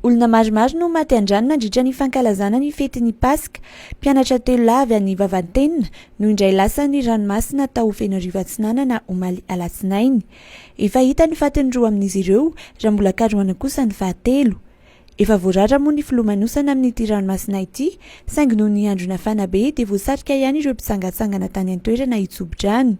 Olona maromaro no maty an-drano nandritra ny fankalazana ny fetin'ny Paska. Mpianatra telo lahy avy any Vavantenina no indray lasan'ny ranomasina tao Fenoarivo Atsinanana omaly alatsinainy. Efa hita ny fatin'ny roa amin'izy ireo raha mbola karohana kosa ny fahatelo. Efa voarara moa ny filomanosana amin'ity ranomasina ity saingy noho ny andro nafana be dia voasarika ihany ireo mpitsangatsangana tany an-toerana hitsobo-drano.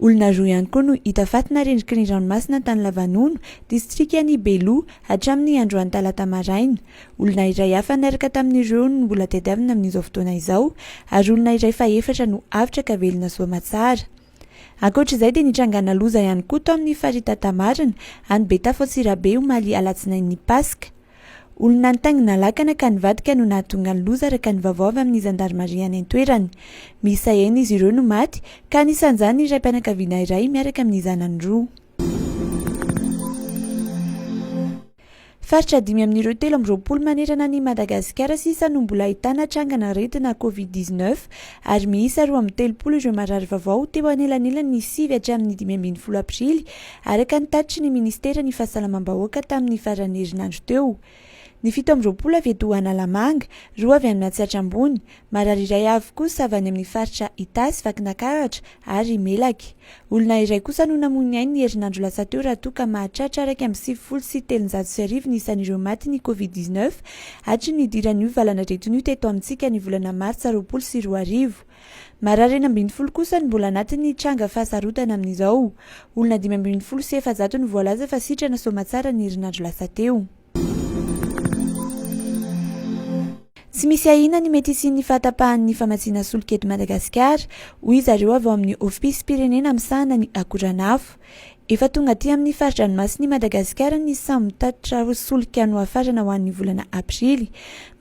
Olona roa ihany koa no hita faty narendriky ny ranomasina tany Lavanono, distrikan'i Belo, hatramin'ny androany talata maraina. Olona iray hafa niaraka tamin'ireo no mbola tadiavina amin'izao fotoana izao ary olona iray fahefatra no avotra ka velona soamatsara. Ankoatra izay dia nitrangana loza ihany koa tao amin'ny farita Tamarina, any Betafo Antsirabe omaly alatsinain'ny Paska. Olona nitaingina lakana ka nivadika no nahatonga ny loza araka ny vaovao avy amin'ny zandarimaria any an-toerana. Miisa enina izy ireo no maty ka anisan'izany ny raim-pianakaviana iray miaraka amin'ny zanany roa. Faritra dimy amin'ireo telo amby roapolo manerana an'i Madagasikara sisa no mbola ahitana trangan'aretina covid dix neuf ary miisa roa amby telopolo ireo marary vaovao teo anelanelan'ny sivy hatramin'ny dimy ambin'ny folo aprily Araka ny tatitry ny Ministeran'ny Fahasalamam-bahoaka tamin'ny faran'ny herinandro teo, ny fito amby roapolo avy eto Analamanga, roa avy any Matsiatra Ambony, marary iray avy kosa avy any amin'ny faritra Itasy, Vakinankaratra ary Melaky. Olona iray kosa no namoy ny ainy ny herinandro lasa teo raha toa ka mahatratra iraika amby sivifolo sy telonjato sy arivo ny isan'ireo maty ny Covid dix-neuf hatry ny nidiran'io valanaretina io teto amintsika ny volana martsa roapolo sy roa arivo. Marary enina ambin'ny folo kosa no mbola anatin'ny tranga fahasarotana amin'izao. Olona dimy ambin'ny folo sy efajato no voalaza fa sitrana soamatsara ny herinandro lasa teo. Tsy misy ahiana ny mety hisian'ny fahatapahan'ny famatsiana solika eto Madagasikara, hoy izy ireo avy ao amin'ny Ofisim-pirenena misahana ny akoranafo. Efa tonga aty amin'ny fari-dranomasin'I Madagasikara ny samy mitatitra ho solika nohafarana ho an'ny volana aprily.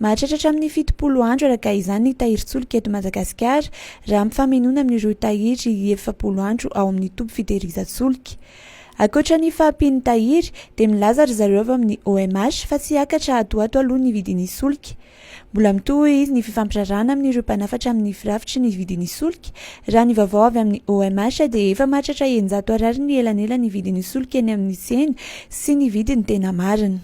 Mahatratra hatramin'ny fitopolo andro araka izany ny tahirin-tsolika eto Madagasikara raha ampifamoinoana amin'ireo tahiry efapolo andro ao amin'ny toby fitehirizan-tsolika. Ankoatra ny fahampian'ny tahiry dia milaza ry zareo avy amin'ny OMH fa tsy hiakatra ato ho ato aloha ny vidin'ny solika Mbola mitohy ny fifampirarahana amin'ireo mpanafatra amin'ny firafitry ny vidin'ny solika. Raha ny vaovao avy amin'ny OMH dia efa mahatratra eninjato Ar ny elanelan'ny vidin'ny solika eny amin'ny tsena sy ny vidiny tena marina.